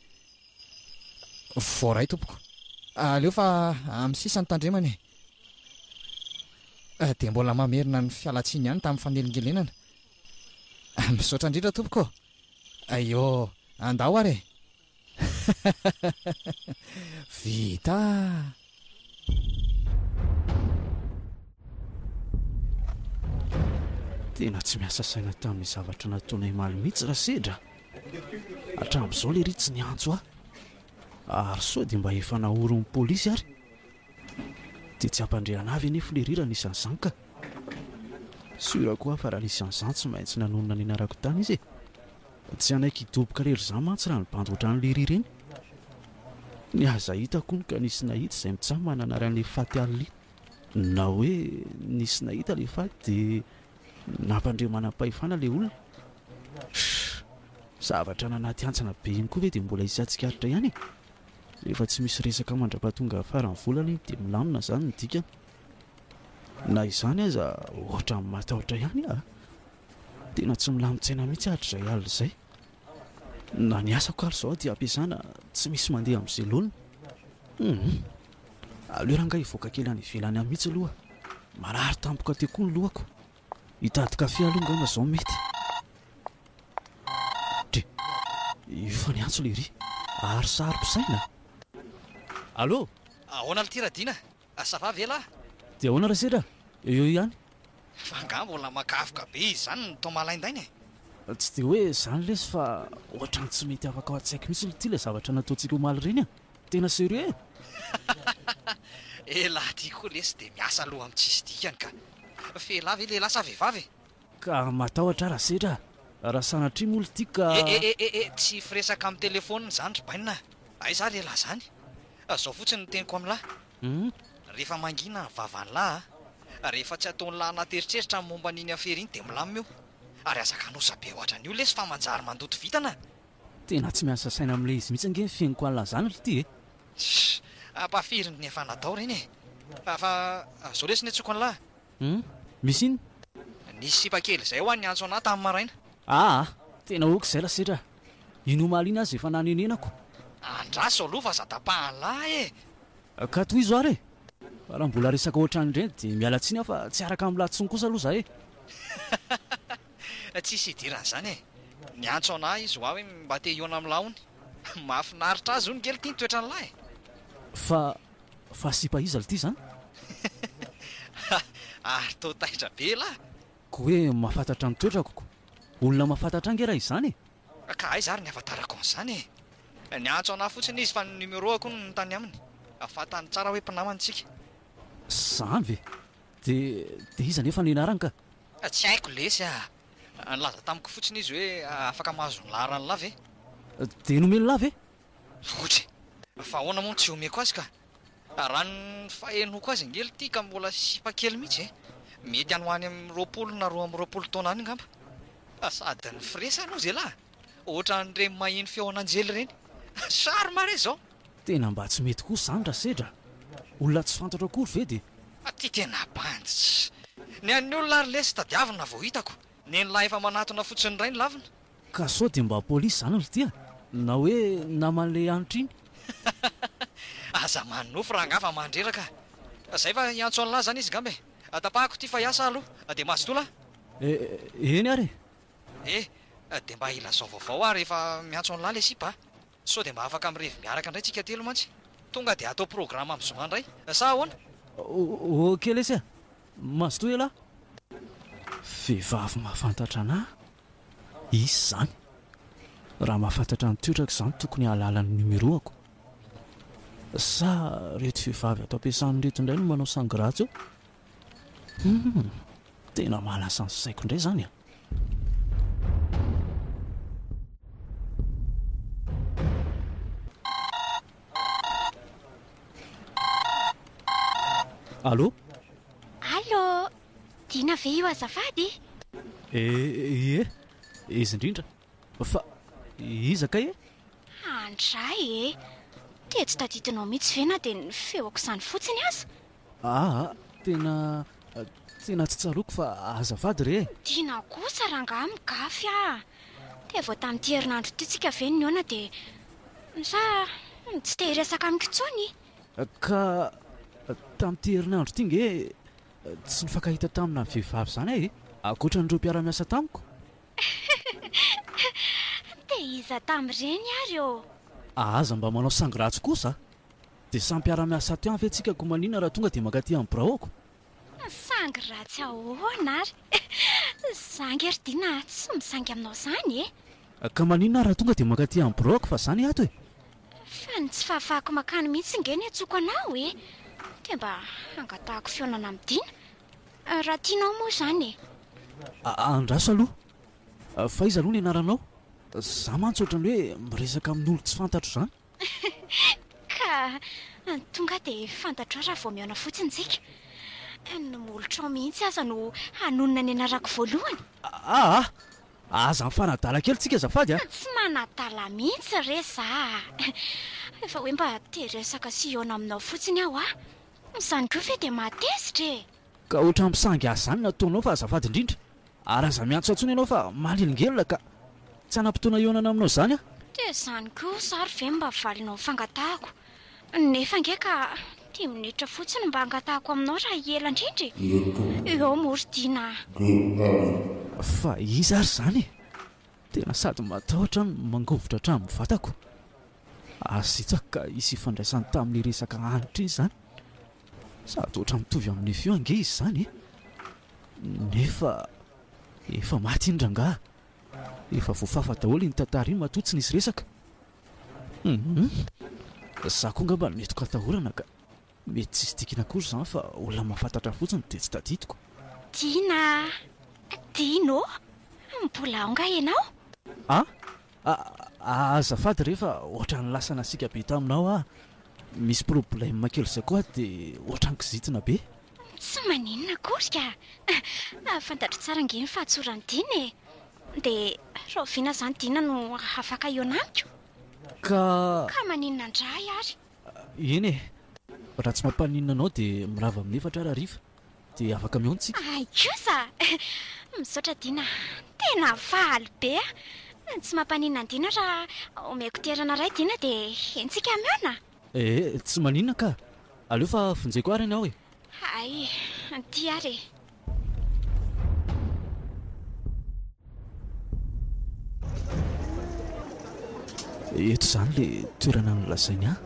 Voaray tompoko. Aleo fa amin'ny sisa no tandremana e. Dia mbola mamerina ny fialantsiny ihany tamin'ny fanelingelenana. Misaotra indrindra tompoko. Aiô, andao ary e. Vita. Tena tsy miasa saina tamin'ny zavatra nataonay maly mihitsy Rasedra. Hatramin'izao le ry tsy niantso ahy. Ary sao dia mba efa naorin'ny polisy ary. Dia tsy hampandriana avy anefa le ry raha nisy an'izany ka. Sûr koa aho fa raha nisy an'izany tsy maintsy nanonona ny anarako tany izy e. Tsy hanaiky hidoboka lery izaho mantsy raha ny bandy ohatran'i lery ireny. Ny aza hitako hono ka nisy nahita izay mitsaha mananara an'i lery faty Alli. Na hoe nisy nahita ilay faty dia nampandre manam-pahefana ilay olona. Shh! Zavatra any anaty hantsana be iny koa ve dia mbola hisy hatsikaritra ihany e? Rehefa tsy misy resaka mandrapatonga faran'ny volana iny dia milamina izany ny dikany. Na izany aza ohatran'ny matahotra ihany aho a! Tena tsy milamin-tsaina mihitsy aho hatrizay alina izay. Na ny asako ary izao dia ampiasana tsy misy mandeha amin'ny selonina. Hum. Aleo rangahy hivoaka kely any ivelany any mihitsy aloha. Marary tampoka teo koa ny lohako. Hitady kafe aloha angamba izao mety. Dre, io fa ny antso lery. Ary saro-pisaina. Allo! Ahoana ry Tiradina? Ah ça va ve lah? Dia ahoana ra sedra? Eo eo ihany. Fa angaha mbola makavoka be izy izany ny tao malaindaina e? Tsy dia hoe izany lesy fa ohatrany tsy mety afaka ao an-tsaiko mihitsy ry ty ilay zavatra nataontsika omaly ireny a! Tena serieux e! Elah ty koa lesy dia miasa loha amin'ny tsisy dikany ka! F'elah ve lehilahy sa vehivavy e? Ka matahotra ara setra a! Raha sanatria moa ry ty ka. Eh eh eh eh tsy firesaka amin'ny telephone izany ry bainina a! Aiza ary elah izany? Izao fotsiny ny teniko amin'lah a! Rehefa mangina ny vavan'lah a! Rehefa tsy ataon'lah anaty eritreritra ny momba an'iny afera iny dia milamina io! Ary aza kanosa be ohatran'io lesy fa manjary mandoto vintana a! Tena tsy miasa saina amin'ilay izy mihitsy ange ny fihainoko an'lah izany ry ty e! Sh! Ampahafirin'ny efa natao ireny e! Fa, fa, izao lesy ny antsoiko an'lah a! Humm misy inn? Nisy sipa kely izay ho an'i Antsona tamin'ny maraina. Aa! Tena ok izay lasetra a! Iny omaly iny aza efa nanenenako. Andraso aloha fa aza tapahan'lah e! Ka tohizo ary e! Fa raha mbola resaka ohatran'ireny dia miala tsiny aho fa tsy araka amin'lah intsony kosa aloha za e! Tsisy idiran'izany e! Ny Antsona izy ho ahy hoe mba te hihaona amin'lah hono. Mahafinaritra azy hono ngely ity ny toetran'lah e! Fa Fa sipa iza lty zany? Hahh ary toa taitra be lah. Ko hoe mahafantatra ny toetrako ko olona mahafantatra ahy nge raha izany e! Ka aiza ary ny avatarako an'izany e! Niantso anah fotsiny izy fa ny numeroako hono no tany aminy. Fantany tsara hoe mpinamana tsika. Zany ve? De de iza nefa ny anarany ka? Tsy haiko lesy ah! Nilaza tamiko fotsiny izy hoe afaka mahazo ny laharan'lah ve? De nomen'lah ve? Loatra e! Fa ahoana moa no tsy omeko azy ka? Raha ny fahenoako azy ange ity ka mbola sipa kely mihitsy e! Mety any ho any amin'ny roapolo na roa amby roapolo taona any angamba. Fa sady ny frais aloha zialahy ohatran'ireny maheno feon'anjely ireny. Charme re izao! Tena mba tsy mety kosa izany Rasedra a! Olona tsy fantatro akory ve dia. Ity tena bandy tsy. Ny an'ny olona ary lesy tadiavina vao hitako. Nen'lah efa manatona fotsiny indray ny lavina. Ka sao dia mba polisy izany ry tia na hoe naman'ilay hanitra iny. Aza manonofy rangaha fa mandreraka a! Zay fa hiantso an'lah zany izy ngamba e! Tapahako ity fa hiasa ah aloha dia mazotoa lah! Eh, eny ary e! Eh, dia mba ilazao vaovao ah rehefa miantso an'lah ilay sipa a! Sao dia mba afaka mirevy miaraka indray tsika telo mantsy. Tonga dia atao programme amin'ny zoma indray. Sa ahoana? Ok lesy a! Mazotoa ialahy. Vehivavy mahafantatra anahy izy izany. Raha mahafantatra ny toetrako izany tokony hahalala ny numéro-ako. Sa ireto vehivavy ato am-piasana ireto indray no manao sangras eo? Humm! Tena mahalasa ny saiko indray izany a! Allô Allô Dina ve io azafady? Eh, ie, izy indrindra. Fa iza kay e? Andray e! Dia tsy tadidinao mihitsy ve na dia ny feoko izany fotsiny aza? Aa, tena, tena tsy tsaroako fa azafady re e! Tiana kosa rangaha migafy a! Dia vao tamin'ity herinandro ity tsika ve nihaona dia sa tsy te hiresaka amiko intsony? Ka tamin'ity herinandro ity nge tsy nifankahita tamina vehivavy izany aho e! Ankoatra an'ireo mpiara-miasa tamiko? Te iza tamin'ireny ary ô? A Aza mba manao sangy ratsy kosa a! Dia samy mpiara-miasa ato ihany ve tsika koa manina raha tonga dia mankaty amin'ny biraoko? Sangy ratsy ahoana ary? Za ange ry Dina tsy misangy aminao izany e! Ka manina raha tonga dia mankaty amin'ny biraoko fa za ny ato e! Fa ny tsy fahafahako makany mihitsy ange no iantsoako anao e! Dia mba hangatahako fihaonana amin'i Dina! Raha tianao moa izany e! Andraso aloha! Fa iza aloha ny anaranao? Za mantsy ohatran'ny hoe miresaka amin'olo tsy fantatro izany. Ka! Tonga dia fantatrao raha vao mihaona fotsiny tsika. Ny molotrao mihitsy aza no hanonona ny anarako voalohany. Aa! Aza mifanadala kely tsika azafady a! Tsy manadala mihitsy re za a! Efa hoe mba te hiresaka sy hihaona aminao fotsiny aho a! Izany koa ve dia mahatezitra e! Ka ohatran'ny mpisangy ahy izany ny ataonao fa azafady indrindra ary aza miantso ahy intsony ianao fa manelingelina ka! Tsy hanam-potoana hihaonana aminao izany aho. Dia izany kosa ary ve mba valinao ny fangatahako? Nefa ange ka dimy minitra fotsiny mba hangatahako aminao raha hiela indrindra e! Ireto. Eo moa ry Dina a! DH. Fa iza ary izany e? Tena sady matahotra no mangovitra hatramin'ny vatako. Aza hitsako ka hisy ifandraisany tamin'ny resaka hanitra iny izany. Sady ohatra mitovy amin'ny feo ange izy izany e! Nefa efa maty iny rangaha. Efa voafafa daholo iny tantara iny matoa tsy nisy resaka. Hum! Za koa angamba mety ho katahorana ka. Mety tsisy dikany akory izany fa olona mahafantatra fotsiny dia tsy tadidiko. Dina a! Dino ô! Mbola ao nga ianao? A! A! Azafady re fa ohatran'ny lasa nasiaka be taminao aho. Misy problème kely izay koa dia ohatran'ny kizitina be. Tsy maninona akory ka! Fantatro tsara ange ny fahatsoran'i Dina e! Dia rahoviana izany Dina no afaka hihaona amiko? Ka! Ka maninona indray ary? Eny e! Raha tsy mampaninona anao dia mirava amin'ny efatra ary hariva dia afaka mihaona isika. Hay kosa! Misaotra Dina a! Tena faly be aho! Tsy mampaninona an'i Dina raha omeko toerana iray Dina dia entsika mihaona a! Ee, tsy maninona kah! Aleo fa vonjeko ary ny aho e! Hay, tia ary e! Eto izany le toerana nolazainy ahy.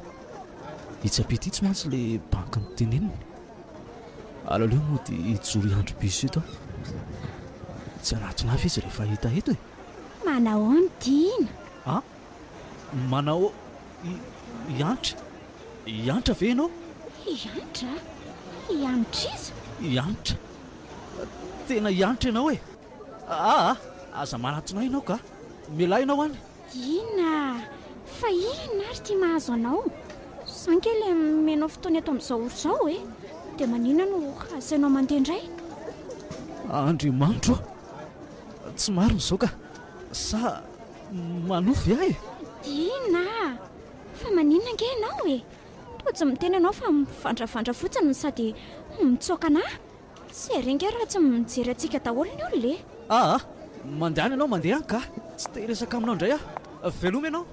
Itsy ampita itsy mantsy le banky niteneniny. Alaleo mody hijoro hiandry bus eto aho. Tsy hanatona ahy ve izy rehefa hahita eto e? Manahoana Tiana? Ah? Manao hiantra? Hiantra ve ianao? Hiantra? Hiantr'iza? Hiantra? Tena hiantra ianao e! Aa! Aza manatona ahy ianao ka! Mialà ianao any! Inona? Fa inona ary ity mahazo anao? Za ange ilay mianao fotoana eto amin'izao ora izao e! Dia maninona no asainao mandeha indray? Andriamanitro ô! Tsy marina izao ka! Sa Manofy ve ahy? Inona? Fa maninona ange ianao e? Toa tsy miteny ianao fa mivandravandra fotsiny no sady mitsoaka an'ahy. Sy ery ange raha tsy mijery antsika daholo ny olona e! Aa! Mandehana ianao, mandehana ka! Tsy te hiresaka aminao indray aho. Veloma ianao!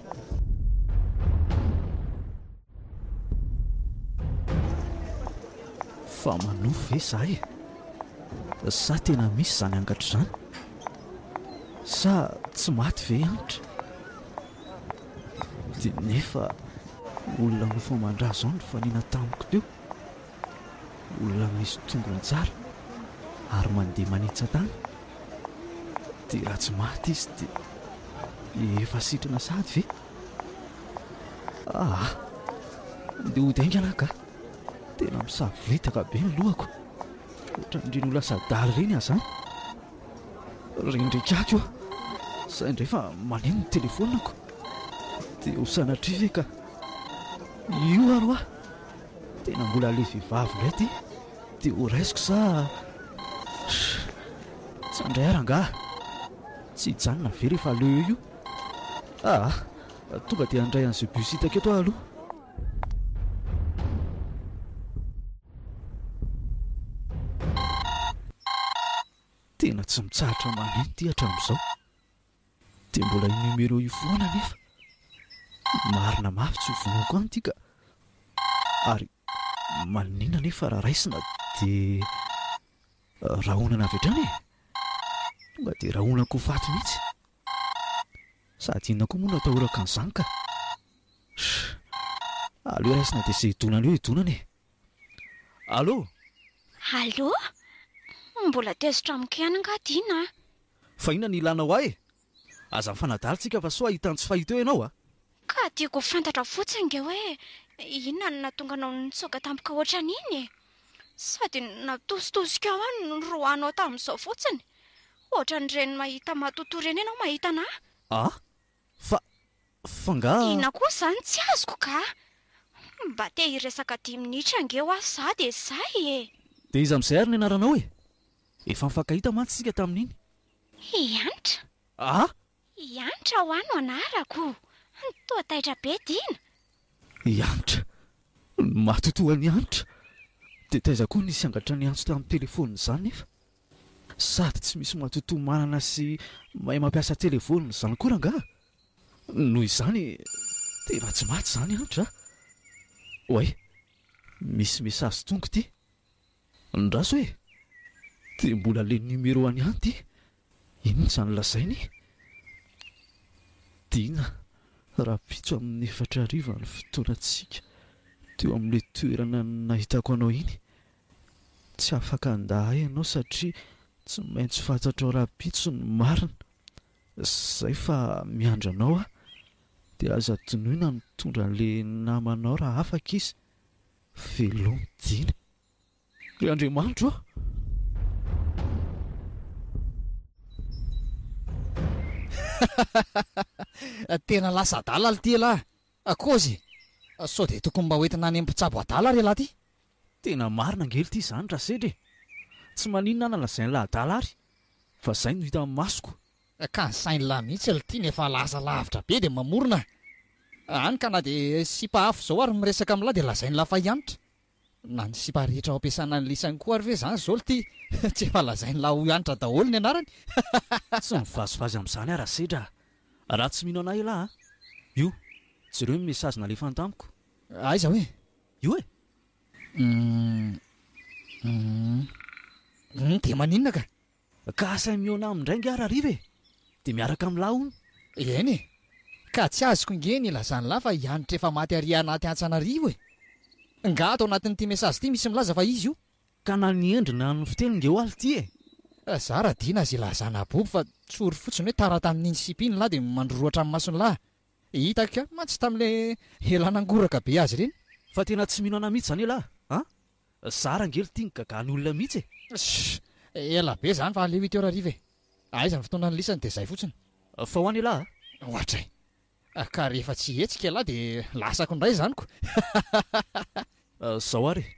Fa manofy ve izahay e? Sa tena misy izany angatra izany? Sa tsy maty ve i Anitra? Dia nefa olona nofy aman-drà izao no nifanena tamiko teo, olona misy tongony tsara ary mandeha manetsa-tany, dia raha tsy maty izy dia efa sitrana sahady ve? Ah! Ndeha hody haingana aho kah! Tena misavoritaka be ny lohako, ohatran'ireny ho lasa adala ireny aho izany. Rendrika ahy koa, izay indray fa maneno ny telefonako. Dia ho sanatria ve ka io ary hoa tena mbola ilay vehivavy indray ity dia ho raisiko sa Sh! Tsy handray ary angaha? Tsy hijanona ve rehefa leo io? Aa! Tonga dia handray an'izay bus hitako eto aho aloha. Tena tsy mitsahatra maneno ity hatramin'izao. Dia mbola io numéro io foana anefa. Marina mafy tsy ho vonoiko any ity ka. Ary maninona anefa raha raisina dia rahonana avy hatrany e? Tonga dia rahonako ho faty mihitsy. Sady inona koa moa no atahorako an'izany ka! Sh! Aleo raisina dia izay hidonana eo hidonana e! Allo! Allo! Mbola tezitra amiko ihany angaha Dina a! Fa inona no ilànao ahy e! Aza mifanadalo tsika fa soa hahita ny tsy fahita eo ianao a! Ka tiako ho fantatra fotsiny ange hoe inona no nahatonga anao nitsoaka tampoka hoatran'iny e! Sady natositosika ao ny roanao tamin'izao fotsiny! Ohatran'ireny mahita matotoa ireny ianao mahita anà. Ah? Fa, fa angaha. Inona koa izany tsy azoko ka. Mba te hiresaka dimy minitra ange hoa za dia izay e! Dia iza amin'izay ary ny anaranao e? Efa nifankahita mantsy isika tamin'iny. I Hanitra. Ah? I Hanitra hoa no anarako. Toa taitra be Dina. I Hanitra. Matotoa an'i Hanitra. Dia taiza koa nisy angatra niantso tamin'ny telefaonina izany nefa? Sady tsy misy matotoa manana sy mahay mampiasa telefaonina izany koa rangaha? Noho izany, tena tsy maty izany Hanitra a! Oay, misy message tonga ity. Andraso e! Dia mbola le numero any an ty inona izany lazainy? Dina, rahampitso amin'ny efatra hariva ny fotoanantsika teo amin'ilay toerana nahitako anao iny. Tsy afaka handà ahy ianao satria tsy maintsy fantatrao rahampitso ny marina. Izay fa miandry anao aho. Dia aza adinoina mitondra an'ilay namanao raha afaka izy. Veloma Jina! Ry Andriamanitro a! Tena lasa adala lty elah a! Kozy e! Sao dia tokony mba hoentina any amin'ny mpitsabo adala ary elah ty? Tena marina ange lty izany Rasedra e! Tsy maninona na lazain'ilay adala ary fa izay no hitan'ny masoko Ka sain lah mihitsy lty ny efa lasa lavitra be dia mamorona a! any ka na dia sipa afo zao ary miresaka am lah dia lazain lah fa ihanitra! na ny sipa rehetra ao ampiasana any lisany koa ary ve zany zao lty tsy efa lazain lah ho ihanitra daholo ny anarany hahahahha! Tsy mivazivazy amin'izany aho Rasedra a! Raha tsy mino anah elah a! Io, jereo ny message nalefany tamiko. Aiza hoe? Io e! Humm humm humm dia maninona ka! Ka asainy mihaona aminy indray angaha Rahariva e! Dia miaraka amin'ny lahy hono. Eny e! Ka tsy azoko ange ny ilazan'ny lahy fa i Hanitra efa maty ary anaty antsy an'arivo e! Ngaha ato anatin'ity message ity misy milaza fa izy io? Ka na ny endriny na ny fiteny nge oaly ity e! Za raha dina azy ilazana abobo fa tsory fotsiny hoe tara tamin'iny sipa iny ny lahy dia mandrorohatra ny mason'ny lahy. Hitako ihany mantsy tamin'ilay elan'angoraka be azy ireny. Fa tena tsy mino anà mihitsy izany elah a! Za rangely ty migaga ny olona mihitsy e. Sssh! Ela be zany fa aleo huit heures hariva e! Aiza ny fotoana anlisany dia zay fotsiny. Fa ho any elah a! Ohatray! Ka rehefa tsy hihetsika elah dia lasako indray zany ko! Hahahahahahah! Zao ary e!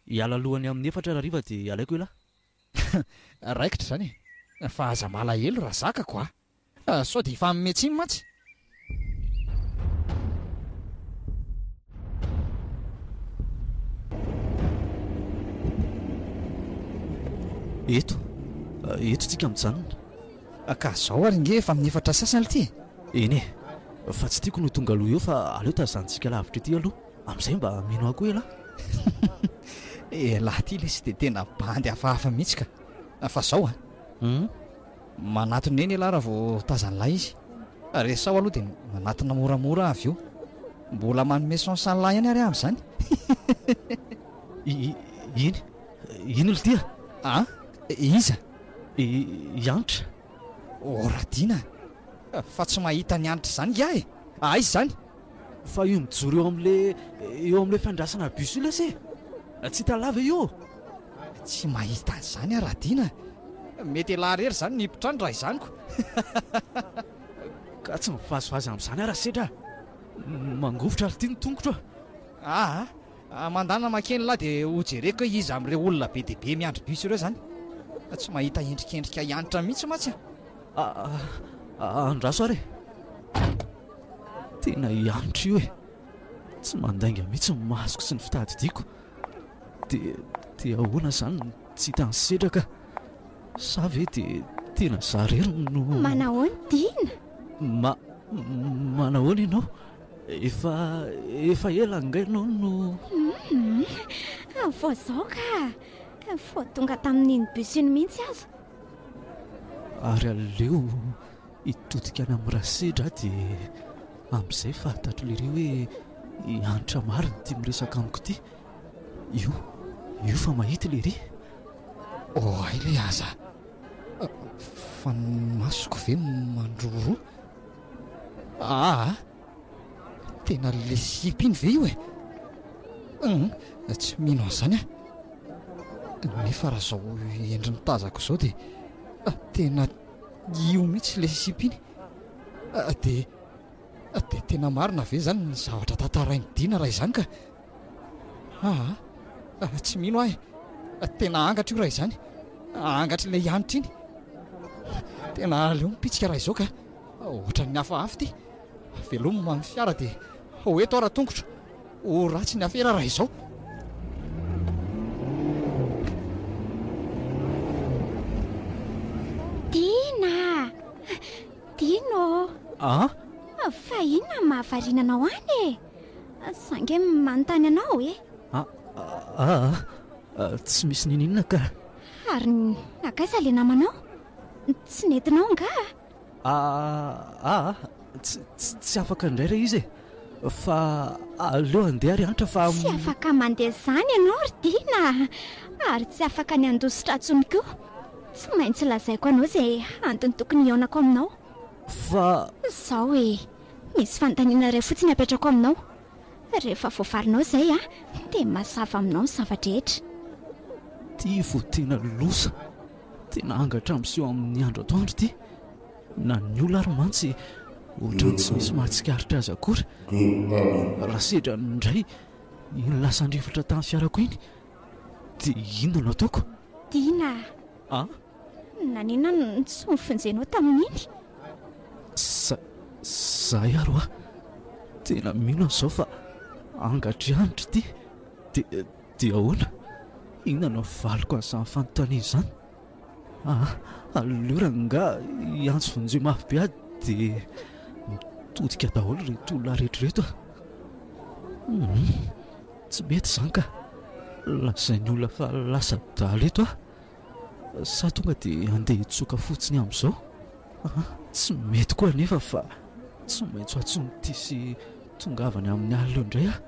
Hiala alohany amin'ny efatra ary hariva dia alaiko elah! Raikitra izany e! Fa aza malahelo raha zakako a! Ah sao dia hifanome tsiny mantsy. Eto, eto tsika mijanona. Ka zao ary nge efa amin'ny efatra sasany ity e. Eny e, fa tsy tiako no tonga aloha eo fa aleo tazanintsika lavitra ity aloha, amin'izay mba mino ahy koa elah. Elah ity lesy dia tena bandy hafahafa mihitsy ka. Fa zao a. Hum. Manatona eny elah raha vao tazan'lah izy. Resaho aloha dia manatona moramora avy eo. Mbola manome chance an'lah ihany ary aho amin'izany. Iny? Iny ry tia? An? Iza? I Hanitra. Horadina! Fa tsy mahita an'i Hanitra izany iah e! Aiza izany? Fa io mijoro eo amle eo amle fandrasana bus io lesy e! Tsy hita lava io ô! Tsy mahita an'izany aho Radina a! Mety elah irery izany ny mpitrany raha izany ko! Ka tsy mivazivazy amin'izany aho Rasedra a! Mangovitra ary ity ny tongotro a! Aa! Mandana makeny lah dia hojereko hoe iza amin'ireo olona be dia be miandry bus ireo izany! Tsy mahita endrikendrika hiantra mihitsy mantsy a! Andraso ary e! Tena i Andry io e! Tsy mandainga mihitsy ny masoko sy ny fitadidiako. Dia dia ahoana izany no tsy hita an'i Sedra ka? Sa ve dia tena izaho irery no. Manahoana Dina? Ma, manahoana ianao? Efa efa ela angaha ianao no. Hum, vao izao ka! Vao tonga tamin'iny bus iny mihitsy aza. Ary aleo hitodika any amin'ny rasedra aho dia amin'izay fahatatro lery hoe i Hanitra marina ity miresaka amiko ity. Io, io fa mahita i lery. Oay ilay aza. Fa ny masoko ve mandroroa? Aa, Tena le sipa iny ve io e? Tsy mino an'izany aho. Nefa raha izao endriny tazako izao dia ah, tena io mihitsy ilay sipa iny. Ah, dia ah, dia tena marina ve izany ny zavatra tantarain'i Dina raha izany ka? Ah, tsy mino aho e. Tena angatra io raha izany. Angatr'ilay hanitra iny. Tena aleo mipitsika raha izao ka. Ohatran'ny hafahafa ity. Veloma ny fiara dia ho eto aho raha tongotra. Ho ratsy ny afera raha izao. Dina! Dino! Ah? Fa inona no mahavariana anao any e? Za nge manontany anao e. Ah, ah, ah, tsy misy nininona ka. Ary nakaiza le namanao? Tsy nentinao nga? Aa aa tsy afaka indray re izy e! fa aleo handeha ry Antra fa. Tsy afaka mandeha izany ianao ry Dina a! ary tsy afaka ny handoa sotra intsony koa! tsy maintsy lazaiko anao izay antony tokony hihaonako aminao. Fa. Izao e! misy fanontaniana iray fotsiny apetrako aminao, rehefa voavalinao izay a! dia mazava aminao ny zava-drehetra. Tia vao tena loza. Tena angatra miseho amin'ny andro atoandro ity, na ny ola ary mantsy ohatran'ny tsy misy mahatsikaritra azy akory. Raha sedra indray iny lasan-drivotra tamin'ny fiarako iny dia inona no ataoko? Tiana a! Ah? Naninona no tsy nofonjenao tamin'iny? Za, zahay ary hoa tena mino an'izao fa angatra ihany ry ty, dia Dia ahoana? Inona no havaliko an'izany fanontaniana izany? Aa! aleo rangaha hiantso vonjeo mafy be aho dia mitodika daholo ireto olona rehetra ireto a! Humm! tsy mety izany ka! lazain'ny olona fa lasa adala eto aho. Sa tonga dia handeha hitsoka fotsiny amin'izao? Aha, tsy mety koa anefa fa tsy maintsy ho antson'ity sy tongavany amin'ny alina eo indray aho.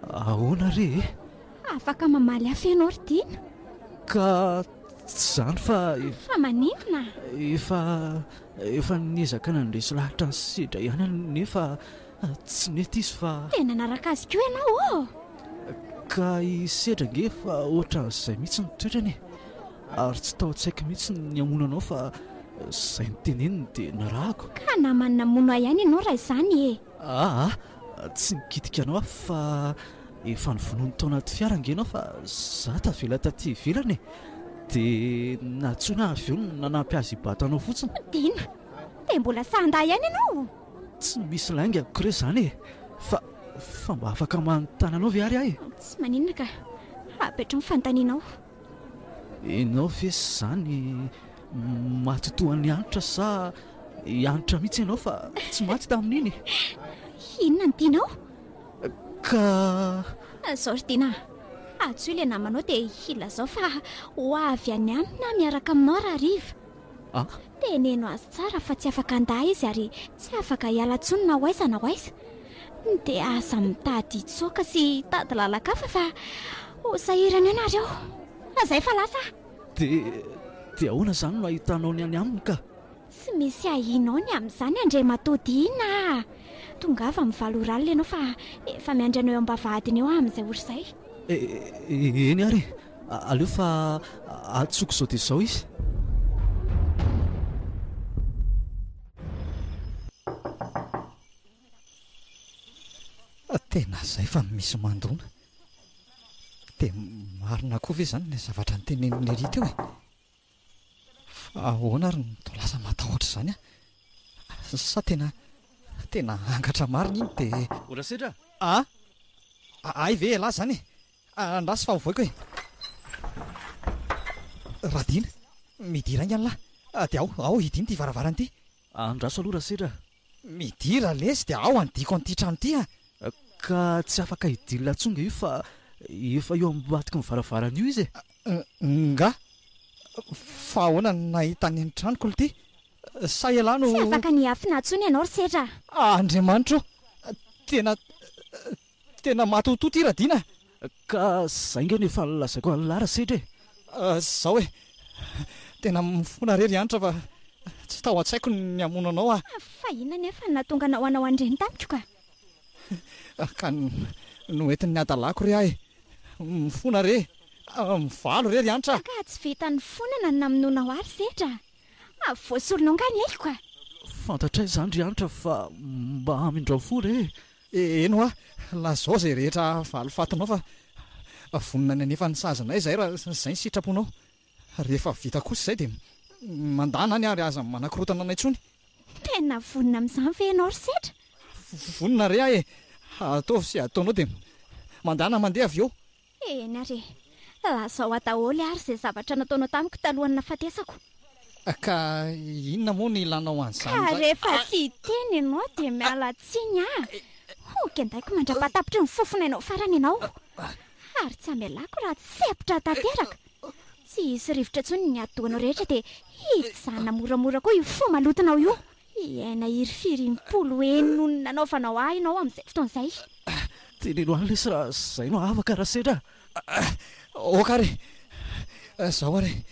Ahoana re e? Afaka mamaly hafa ianao ry Tiana. Ka tsy izany fa efa. Fa maninona? Efa, efa niezaka nandresy lahatra ny sedra ihany aho nefa Tsy nety izy fa. Te nanaraka azy koa ianao ô! Ka i Sedra ange efa ohatran'izay mihitsy ny toetrany e! Ary tsy tao an-tsaiko mihitsy ny hamono anao fa izay noteneniny dia narahako. Ka namany namono ahy ihany ianao raha izany e! Aa! Tsy nikitika anao aho fa efa novonoiny tao anaty fiara ange ianao fa izaho tavela taty ivelany e! Dia nantsoina ahy avy eo nanampy azy hibato anao fotsiny. Dina! Dia mbola sahandahy ihany ianao! Tsy misy lainga amiko re izany e! Fa, fa mba afaka manontany anao ve ary aho e? Tsy maninona ka! Ampitro ny fanontanianao. Ianao ve izany maty toa an'i Hanitra sa i Hanitra mihitsy ianao fa tsy maty tamin'iny e? Inona no tianao? Ka. Izao ry Dina a! Antsoy ilay namanao dia ilazao fa ho avy any aminy aho miaraka aminao raha hariva. Ah! Teneno azy tsara fa tsy afaka handà izy ary tsy afaka hiala intsony na ho aiza na ho aiza. Dia aza mitady hitsoaka sy hitady lalan-kafa fa ho sahirana eo nareo. Aza efa lasa ah! Dia, dia ahoana izany no ahitanao ny any aminy ka? Tsy misy ahianao ny amin'izany Andriamatoa Dina ah! Tongava mivaly oralina ianao fa efa miandry anao eo am-bavahadiny eo ah amin'izay ory izay. E, eny ary e! Aleo fa antsoiko izao dia izao izy. Tena izay fa misy mandona. Dia marina koa ve izany ilay zavatra notenenin'i Nelly teo e? Fa ahoana ary no toa lasa matahotra izany an? Sa tena, tena angatra marina iny dia. O Rasedra a! A! Hay ve ialahy izany e! Andraso fa hovoiko e! Radin, midira aingana lahy, dia ao, ao hidino ity varavarana ity. Andraso aloha Rasera a! Midira lesy dia ao handiako an'ity trano ity a! Ka tsy afaka hidila intsony nga io fa efa eo ambadiky ny varavarana io izy e! Nga? Fa ahoana no nahitany ny tranoko l'ty? Sa ialahy no. Tsy afaka ny hiafina intsony ianao Rasera a! Andriamanitra o! Tena Tena matotoa ity Radiana a! Ka zay nge no efa lazaiko an'i Lara sedra e! Zao e! Tena mifona re ry Hanitra fa tsy tao an-tsaiko ny hamono anao a! Fa inona anefa no nahatonga anao hanao an'ireny tamiko ka? Ka noentin'ny hadalako re ahy mifona re! Mivaly re ry Hanitra a! Ka tsy vita nifonana no namonoanao ahy ry sedra a! Voasorinao angaha ny aiko ka? Fantatray izany ry Hanitra fa mba hamindrao fo re e! Eny hoa, lazao izay rehetra valifatinao fa vonona ny hanefa ny sazinay izahay raha izay ny sitraponao. Rehefa vita kosa izay dia mandàna any ary aza manakorotana anay intsony. Tena vonona amin'izany ve ianao ry Sedra? Vonona re aho e! Ataovy izay ataonao dia mandàna mandeha avy eo. Eny ary e! Lazao aho daholo ary izay zavatra nataonao tamiko talohan'ny nahafatesako. Ka inona moa no ilanao an'izany indray? Ka rehefa tsy hiteny ianao dia miala tsiny aho. Ho kendaiko mandra-pahatapitry ny fofonainao farany ianao. Ary tsy hamelako raha tsy hepitra tanteraka. Tsy hisy rivotra intsony ny atidohanao rehetra dia hijanona moramora koa io fo malotonao io. Hiaina hirifiry impolo heny noho ny nanaovanao ahy ianao amin'izay fotoana izay. Teneno any lesy raha izay no afaka raha sendra a! Ok ary izao ary e!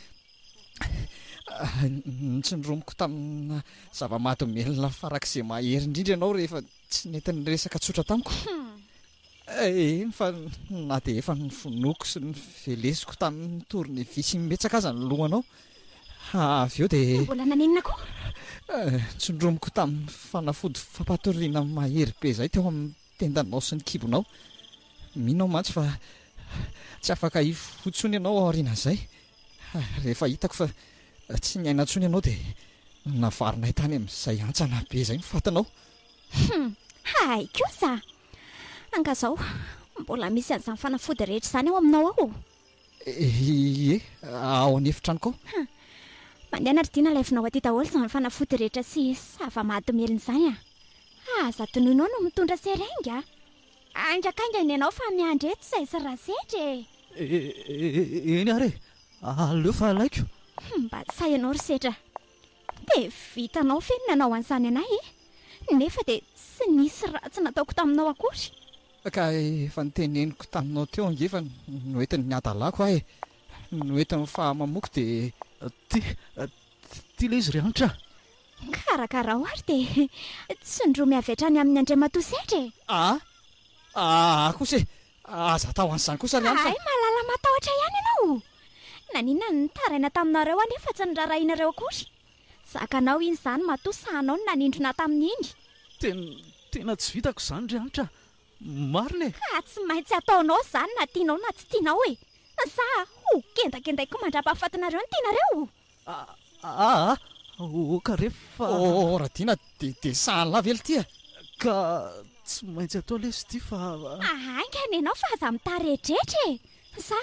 Notsindromiko tamina zava-mahadomelina farak'izay mahery indrindra ianao rehefa tsy nety niresaka tsotra tamiko. Eny fa na dia efa nofonoiko sy novelesiko tamin'ny tournevis imbetsaka aza ny lohanao, avy eo dia. Mbola nanenina koa? Ntsondromiko tamin'ny fanafody fampatoriana mahery be izay teo amin'ny tendanao sy ny kibonao. Mino aho mantsy fa tsy afaka hifoha intsony ianao aorianan'izay. Rehefa hitako fa tsy niaina intsony ianao dia navarinay tany amin'izay hantsana be izay ny fatinao. Hum! Hay kosa! Angazao, mbola misy an'izany fanafody rehetra izany ao aminao ao? Ie, ao an'efitranoko ao. Hum, mandeha na ry Dina alaivinao aty daholo izany fanafody rehetra sy zava-mahadomelina izany a! Aza tonoinao no mitondra seringue a! Ainga kainga nenao fa miandry eto izay sy Rasedry e! Eny ary e! Aleo fa alaiko. Mba tsy sahy ianao ry Sedra. Dia vitanao ve ny nanao an'izany anay e? Nefa dia tsy nisy ratsy nataoko taminao akory. Ka efa noteneniko taminao teo ange fa noentin'ny hadalako aho e! Noentin'ny fahamamoko dia. Ty, ty ilay izy ry Hanitra a! Karakarao ary dia tsindromy avy hatrany amin'ny Andriamatoa Sedra e! Aa, aa kosa e! Aza atao an'izany kosa ry Anta. Hay mahalala matahotra ihany ianao o! Naninona no nitaraina taminareo anie fa tsy norarahianareo akory? Zakanao iny izany matoa sahanao ny nanindrona tamin'iny. Tena, tena tsy vitako izany ry Anitra a! Marina e! Ka tsy maintsy ataonao izany na tianao na tsy tianao e! Sa ho kendakendaiky mandrapahafatinareo ny tenareo? Aa! Ô ka re fa. Ô Radiana, dia sahanin'lah ve l'ty a? Ka tsy maintsy atao lesy ity fa. Haingana ianao fa aza mitaredretra e! Sa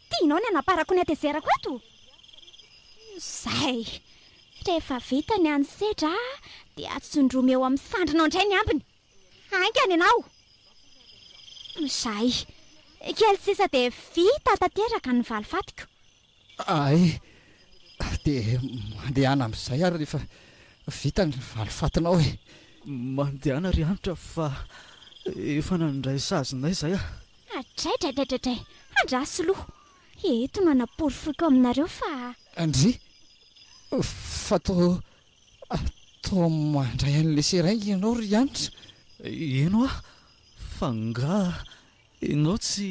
tianao ny hanaparako ny hatezerako eto? Izay! Rehefa vita ny an'ny sedra dia atsondromy eo amin'ny sandrinao indray ny ambiny. Haingana ianao! Izay! Kely sisa dia vita tanteraka ny valifatiko. Ahay dia mandehana amin'izay ary rehefa vita ny valifatinao e! Mandehana ry Hanitra fa efa nandray sazinay izay aho. Adraidraidraidray! Andraso loha! Eto no hanaporofoiko aminareo fa. Ndry! Fa toa toa mandray an'ilay seringue ianao ry Hanitra? Eny hoa! Fa angaha Enao tsy.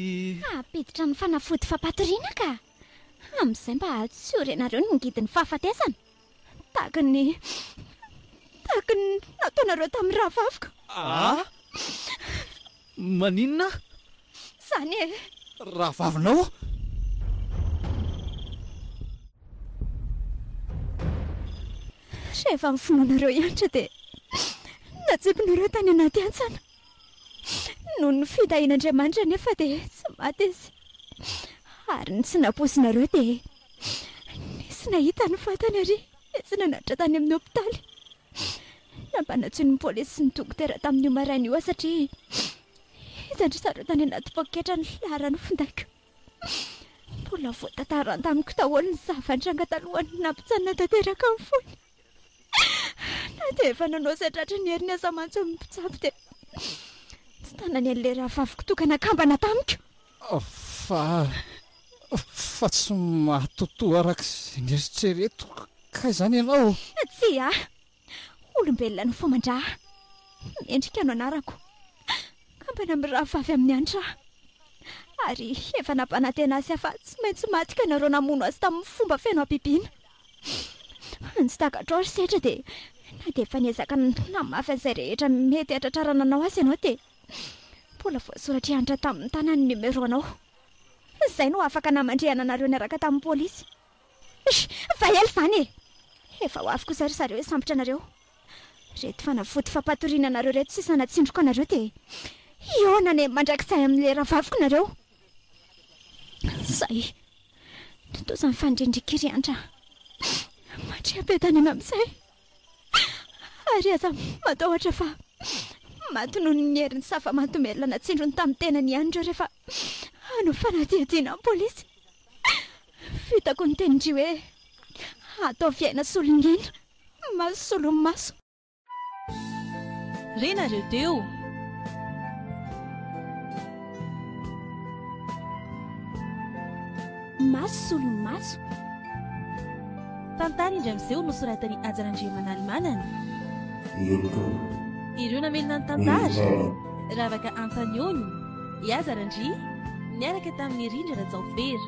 Hampiditra amin'ny fanafody fampatoriana ka! Amin'izay mba tsy ho renareo ny ngidin'ny fahafatesana! Tahaka ny. tahaka ny nataonareo tamin'ny rahavaviko! Ah! Maninona? Izany e! Rahavavinao? Rehefa ny finoanareo hiantra dia natsipinareo tany anaty hantsana! Noho ny fitahian'Andriamanitra anefa dia tsy maty izy, ary ny tsy nampoizinareo dia nisy nahita ny vatany ary nisy nanatitra tany amin'ny hopitaly. Nampanantsoin'ny polisy sy ny dokotera tamin'io maraina io aho satria hitan-dry zareo tany anaty poketra ny filaharan'ny findaiko. Mbola voatantarany tamiko daholo ny zava-nitranga talohan'ny nampitsanina tanteraka ny fony. Na dia efa nanao izay tratry ny heriny aza mantsy ny mpitsabo dia tsy tanany an'ilay rahavaviko toaka nakambana tamiko. Fa, fa tsy mahatotoa araka izay neritreretiko kay izany ianao? Tsia. Olombelona no faman-dra. Mendrika no anarako. Kambana mirahavavy amin'ny Hanitra aho. Ary efa nampanantena azy aho fa tsy maintsy maty ka nareo namono azy tamin'ny fomba feno habibiana. Ny tsy takatrao ry Setra dia na dia efa niezaka nitona mafy an'izay rehetra mety hahatratrarana anao azy ianao dia mbola voasoratra hiantra tamin'ny tanany ny numéro anao. Izay no afaka namandrihana anareo niaraka tamin'ny polisy. Eish! Efa ela izany e! Efa ho avy kosa ry zareo hisambotra anareo. Ireto fanafody fampatoriana anareo ireto sisa natsindroko anareo dia hihaona any mandrakizay amin'ilay rahavaviko nareo. Izay. Tontosa ny fanirian-dRiky ry Andra. Mandria be tany amin'izay. Ary aza matahotra fa maty noho ny herin'ny safa mahadomelina natsindrony tamin'ny tenany ihany ireo rehefa hanao fanadihadiana ny polisy. Vitako ny tenin-dry hoe, Ataovy aina solon'aina, maso solon'ny maso. Re nareo teo. Maso solon'ny maso. Tantara indray miseho nosoratan'i Haja Randriamanalimanana. Ireo mpitondra. Ireo namelona ny tantara. Ravaka Antanioni, i Haja Randria, niaraka tamin'i Rindra Rajaofera.